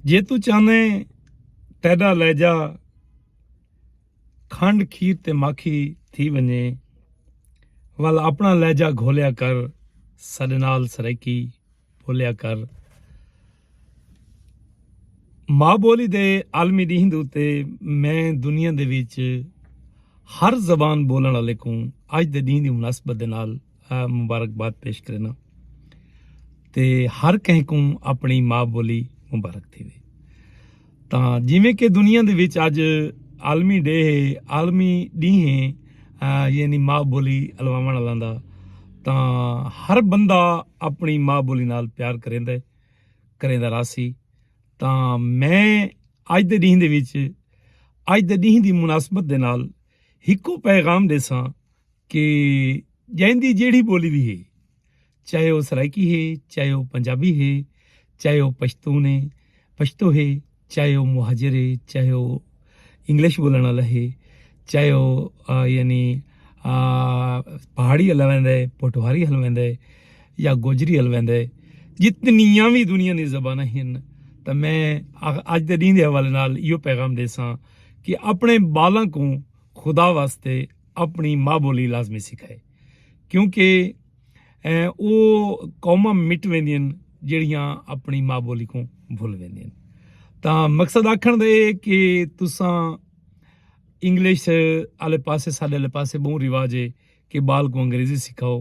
جے تو چاہنے تیڈا لہجہ کھنڈ کھیر تے ماکھی تھی ونجے ول اپنا لہجہ گھولیا کر ساڈے نال سرائیکی بولیا کر ماں بولی دے عالمی ڈینہہ دے اتے میں دنیا دے وچ ہر زبان بولن والے کوں اج دے ڈینہہ دی مناسبت دے نال مبارکباد پیش کرنا تے ہر کہیں کو اپنی ماں بولی مبارک تھی وے تا جیویں کہ دنیا دے وچ اج عالمی ڈے ہے عالمی ڈی ہے یعنی ماں بولی الواون والا دا تا ہر بندہ اپنی ماں بولی نال پیار کریندا ہے کریندا راسی تا میں اج دے ڈی دے وچ اج دے ڈی دی مناسبت دے نال ہکو پیغام دے ساں کہ جیندی جیڑھی بولی وی ہے چاہے او سرائیکی ہے چاہے او پنجابی ہے چاہے او پشتون ہے پشتو ہے چاہے او مہاجر ہے چاہے او انگلش بولن والا ہے چاہے او یعنی پہاڑی ہلوند ہے پوٹوہاری ہلوند ہے یا گوجری ہلوند ہے جتنیاں وی دنیا دی زباناں ہن تاں میں اج دے ڈینہہ دے حوالے نال ایو پیغام دیساں کہ اپنے بالاں کوں خدا واسطے اپنی ماں بولی لازمی سکھائے کیونکہ او قوماں مٹ ویندین جڑیاں اپنی ماں بولی کو بھول ویندین تا مقصد آکھن دے کہ تساں انگلش آلے پاسے ساڈے آلے پاسے بہوں رواج ہے کہ بال کو انگریزی سکھاؤ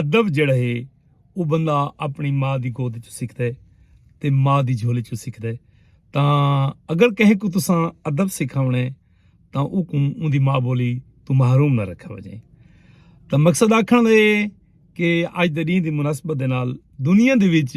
ادب جیڑھا ہے او بندہ اپنی ماء دی گود وچوں سکھدا ہے تے ماء دی جھولی وچوں سکھدا ہے تاں اگر کہیں کوں تساں ادب سکھاوݨا ہے تاں اوکوں اوندی ماء بولی توں محروم نہ رکھا وجے تاں مقصد آکھݨ دا اے کہ اج دے ݙینہ دی مناسبت دے نال دنیا دے وچ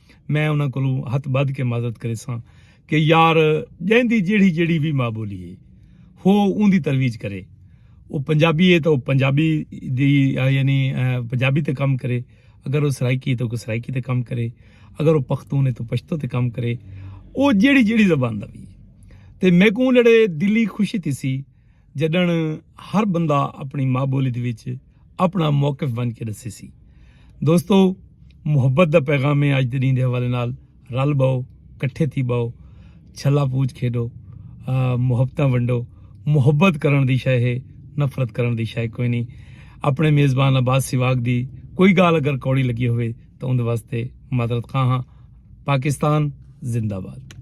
میں انہاں کولوں ہتھ بدھ کے معذرت کریساں کہ یار جیندی جیڑھی جیڑھی وی ماء بولی ہے ہو اوندی ترویج کرے او پنجابی ہے تاں او پنجابی دی یعنی پنجابی تے کم کرے اگر او سرائیکی ہے تاں او سرائیکی تے کم کرے اگر او پختون ہے تاں پشتو تے کم کرے او جیڑھی جیڑھی زبان دا وی ہے تے میکوں جیڑھے دلی خوشی تھیسی۔ جݙݨ ہر بندہ اپݨی ماء ٻولی دے وچ اپݨا موقف ونڄ کے ݙسیسی۔ دوستو محبت دا پیغام ہے اڄ دے ݙینھ دے حوالے نال رل ٻہو کٹھے تھی ٻہو چھلا پوچ کھیݙو محبتاں ونڈو محبت کرݨ دی شئے ہے نفرت کرݨ دی شئے کوئی نی اپݨے میزبان عباس سیواگ دی کوئی ڳالھ اگر کوڑی لڳی ہووے تاں اوندے واسطے معذرت خواہ ہاں پاکستان زندہ باد۔